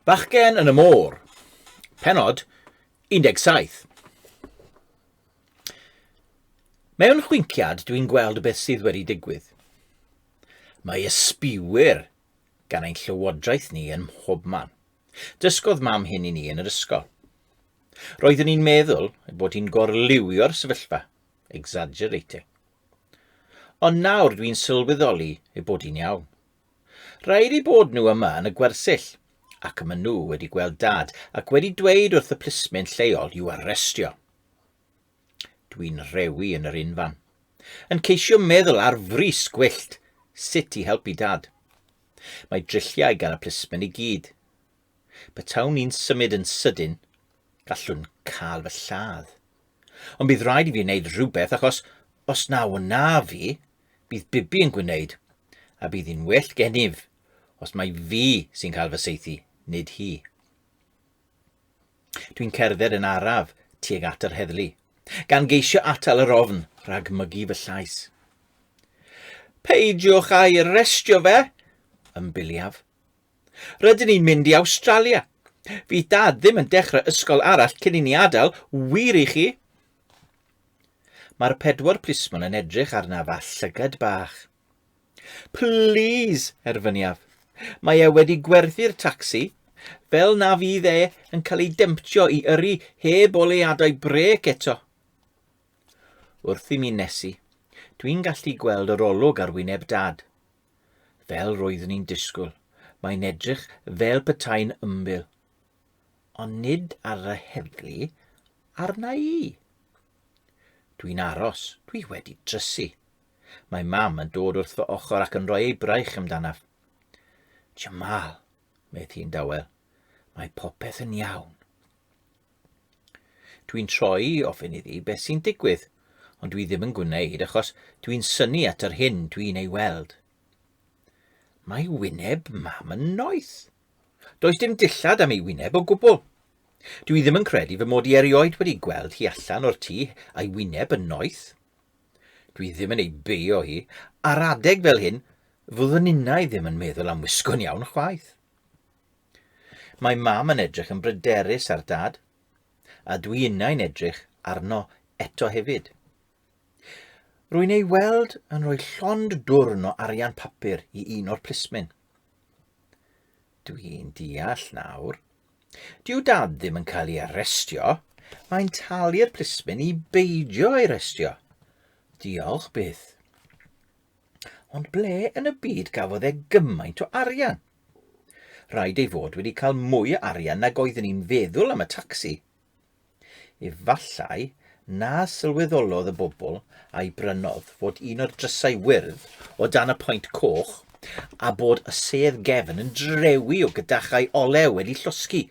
Bachgen yn y Môr, penod 17. Mewn chwinciad dwi'n gweld beth sydd wedi digwydd. Mae ysbiwyr gan ein llywodraeth ni yn mhob man. Dysgodd mam hyn i ni yn yr ysgol. Roeddwn i'n meddwl bod hi'n gorliwio'r sefyllfa, exaggerating, Ond nawr dwi'n sylweddoli ei bod hi'n iawn. Rhaid ei bod nhw yma yn y gwersyll, ac y maen nhw wedi gweld Dad ac wedi dweud wrth y plismyn lleol i'w arestio. Dwi'n rhewi yn yr unfan, yn ceisio meddwl ar frys gwyllt sut i helpu Dad. Mae drilliau gan y plismyn i gyd. Petawn ni'n symud yn sydyn, gallwn cael fy lladd. Ond bydd rhaid i fi wneud rhywbeth achos os na wna fi, bydd Bibi yn gwneud, a bydd hi'n well gennyf os mae fi sy'n cael fy seithi, nid hi. Dwi'n cerdded yn araf tuag at yr heddlu, gan geisio atal yr ofn rhag mygu fy llais. Peidiwch a'i arestio fe, ymbiliaf, Rydyn ni'n mynd i Awstralia. Fydd Dad ddim yn dechrau ysgol arall cyn i ni adael, wir i chi? Mae'r pedwar plismon yn edrych arnaf â llygad bach. Plîs, erfyniaf. Mae e wedi gwerthu'r tacsi, fel na fydd e yn cael ei demptio i yrru heb oleadau brêc eto. Wrth i mi nesu, dwi'n gallu gweld yr olwg ar wyneb Dad. Fel roeddwn i'n disgwyl, mae'n edrych fel petai'n ymbil. Ond nid ar y heddlu, arna i. Dwi'n aros, dwi wedi trysu. Mae mam yn dod wrth fy ochr ac yn rhoi ei braich amdanaf. Jamal, medd hi'n dawel, mae popeth yn iawn. Dwi'n troi i ofyn iddi beth sy'n digwydd, ond dwi ddim yn gwneud achos dwi'n syni at yr hyn dwi'n ei weld. Mae wyneb mam yn noeth. Does dim dillad am ei wyneb o gwbl. Dwi ddim yn credu fy mod i erioed wedi gweld hi allan o'r tŷ a'i wyneb yn noeth. Dwi ddim yn ei beio hi, ar adeg fel hyn, fyddwn innau ddim yn meddwl am wisgo'n iawn chwaith. Mae mam yn edrych yn bryderus ar dad, a dwi innau'n edrych arno eto hefyd. Rwy'n ei weld yn rhoi llond dwrn o arian papur i un o'r plismyn. Dwi'n deall nawr. Dyw dad ddim yn cael ei arestio, mae'n talu'r plismyn i beidio ei restio. Diolch byth. Ond ble yn y byd gafodd e gymaint o arian? Rhaid ei fod wedi cael mwy o arian nag oeddwn i'n feddwl am y tacsi. Efallai na sylweddolodd y bobl a'i brynodd fod un o'r drysau wyrdd o dan y point coch a bod y sedd gefn yn drewi o gydachau olew wedi llosgi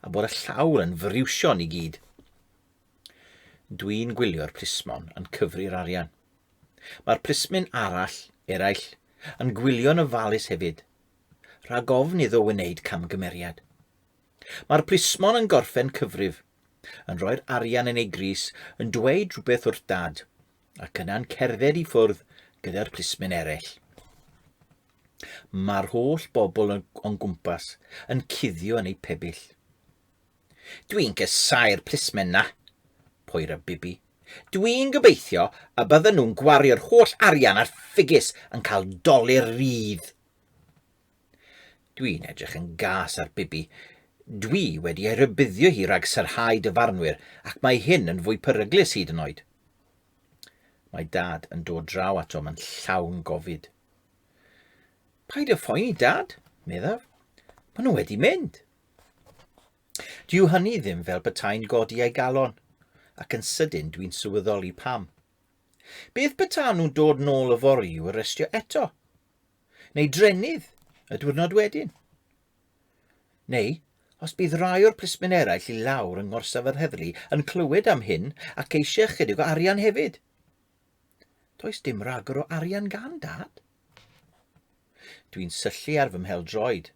a bod y llawr yn friwsion i gyd. Dwi'n gwylio'r plismon yn cyfri'r arian. Mae'r plismyn arall, eraill, yn gwylio'n ofalus hefyd, rhag ofn iddo wneud camgymeriad. Mae'r plismon yn gorffen cyfrif, yn rhoi'r arian yn ei grys, yn dweud rhywbeth wrth dad, ac yna'n cerdded i ffwrdd gyda'r plismyn eraill. Mae'r holl bobl o'n gwmpas yn cuddio yn eu pebyll. Dwi'n casáu'r plismen 'na! poer a Bibi. Dwi'n gobeithio y bydden nhw'n gwario'r holl arian ar ffigys yn cael dolur rydd! Dwi'n edrych yn gas ar Bibi. Dwi wedi ei rybuddio hi rhag syrhau dyfarnwyr ac mae hyn yn fwy peryglus hyd yn oed. Mae Dad yn dod draw ato mae'n llawn gofid. Paid â phoeni, Dad, meddaf. Maen nhw wedi mynd. Dyw hynny ddim fel petai'n godi ei galon, ac yn sydyn dwi'n sylweddoli pam. Beth beta nhw'n dod nôl y fori i'w arestio eto? Neu drenydd y diwrnod wedyn? Neu, os bydd rai o'r plismyn eraill i lawr yng ngorsaf yr heddlu yn clywed am hyn ac eisiau ychydig o arian hefyd? Does dim rhagor o arian gan dad. Dwi'n syllu ar fy mhel droed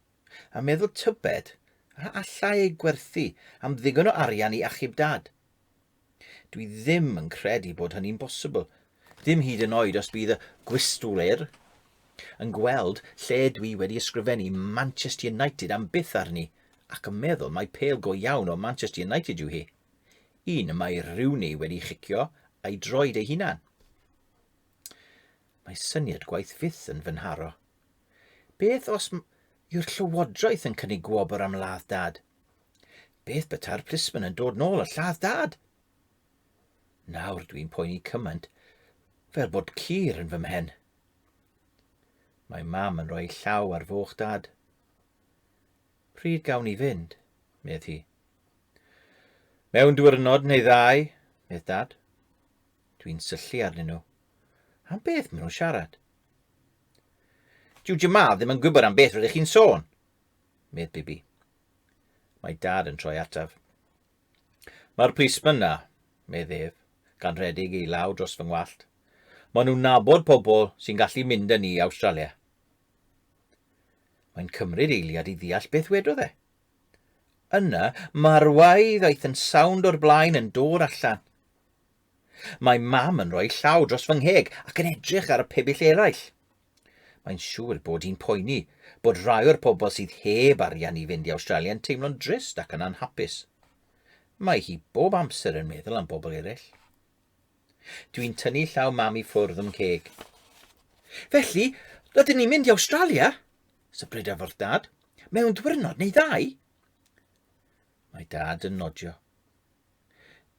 a meddwl tybed a allai ei gwerthu am ddigon o arian i achub Dad. Dwi ddim yn credu bod hynny'n bosibl, ddim hyd yn oed os bydd y Gwistwr yn gweld lle dwi wedi ysgrifennu Manchester United am byth arni ac yn meddwl mai pêl go iawn o Manchester United yw hi. Un y mae Rooney wedi chicio a'i droed ei hunan. Mae syniad gwaith fyth yn fy nharo. Beth os yw'r llywodraeth yn cynnig gwobr am ladd dad? Beth beta'r plismon yn dod nôl y lladd dad? Nawr dwi'n poeni cymaint fel bod cur yn fy mhen. Mae mam yn rhoi llaw ar foch dad. Pryd gawn ni fynd, medd hi. Mewn diwrnod neu ddau, medd dad. Dwi'n syllu arnyn nhw. Am beth maen nhw'n siarad? Dyw Jamal ddim yn gwybod am beth rydych chi'n sôn, medd Bibi. Mae dad yn troi ataf. Mae'r plismyn na, medd ef, gan redig ei law dros fy ngwallt. Maen nhw'n nabod pobl sy'n gallu mynd â ni i Awstralia. Mae'n cymryd eiliad i ddeall beth wedodd e. Yna, mae'r waedd aeth yn sawnd o'r blaen yn dod allan. Mae mam yn rhoi llaw dros fy ngheg ac yn edrych ar y pebyll eraill. Mae'n siŵr bod hi'n poeni bod rhai o'r pobl sydd heb arian i fynd i Awstralia yn teimlo'n drist ac yn anhapus. Mae hi bob amser yn meddwl am bobl eraill. Dwi'n tynnu llaw mam i ffwrdd o'm ceg. Felly, rydyn ni'n mynd i Awstralia? Sybryda wrth dad. Mewn diwrnod neu ddau? Mae dad yn nodio.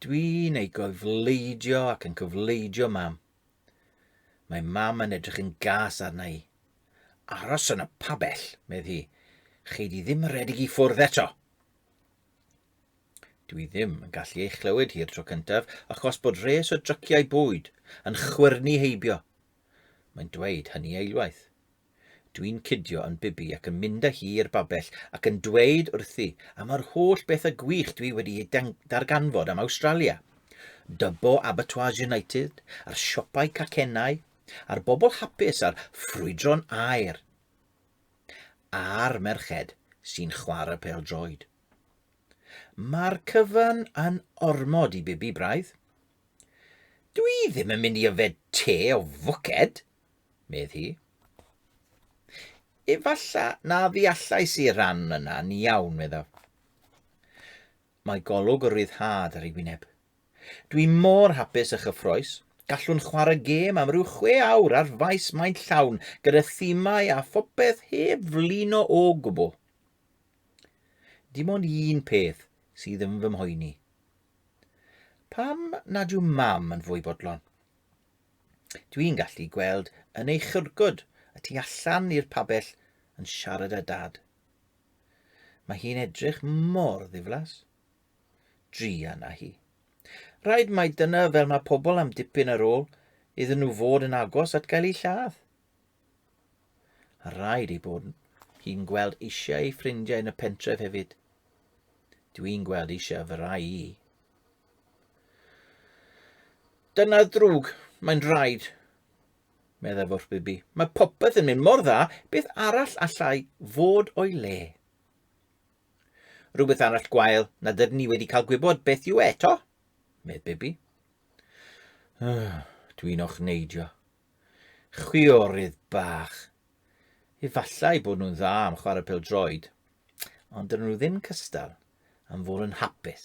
Dwi'n ei gofleidio ac yn cofleidio mam. Mae mam yn edrych yn gas arna i. Aros yn y pabell, medd hi. Chei di ddim redeg i ffwrdd eto. Dwi ddim yn gallu ei chlywed hi'r tro cyntaf achos bod res o dryciau bwyd yn chwyrnu heibio. Mae'n dweud hynny eilwaith. Dwi'n cydio yn Bibi ac yn mynd â hi i'r babell ac yn dweud wrthi am yr holl bethau gwych dwi wedi eu darganfod am Awstralia. Dubbo Abattoirs United, a'r siopau cacennau, a'r bobl hapus a'r ffrwydron aer. A'r merched sy'n chwarae pêl-droed. Mae'r cyfan yn ormod i Bibi braidd. Dwi ddim yn mynd i yfed te o fwced! medd hi. Efalla na ddeallais i'r ran yna ni iawn, meddaf. Mae golwg o ryddhad ar ei wyneb. Dwi mor hapus a chyffroes, gallwn chwarae gêm am ryw chwe awr ar faes maint llawn gyda thimau a phopeth heb flino o gwbl. Dim ond un peth sydd yn fy mhoeni. Pam nad yw mam yn fwy bodlon? Dwi'n gallu gweld yn ei chyrgod y tu allan i'r pabell yn siarad â dad. Mae hi'n edrych mor ddiflas. Drian a hi. Rhaid mai dyna fel mae pobl am dipyn ar ôl iddyn nhw fod yn agos at gael eu lladd. A rhaid ei bod hi'n gweld eisiau ei ffrindiau yn y pentref hefyd. Dwi'n gweld eisiau fy rai i. Dyna ddrwg, mae'n rhaid, meddai Forthbyby. Mae popeth yn mynd mor dda, beth arall allai fod o'i le? Rhywbeth arall gwael na dydyn ni wedi cael gwybod beth yw eto, medd Bibi. Ah, dwi'n o'ch neidio. Chwiorydd bach. Efallai bod nhw'n dda am chwarae pel droed, ond dyn nhw ddim cystal am fod yn hapus.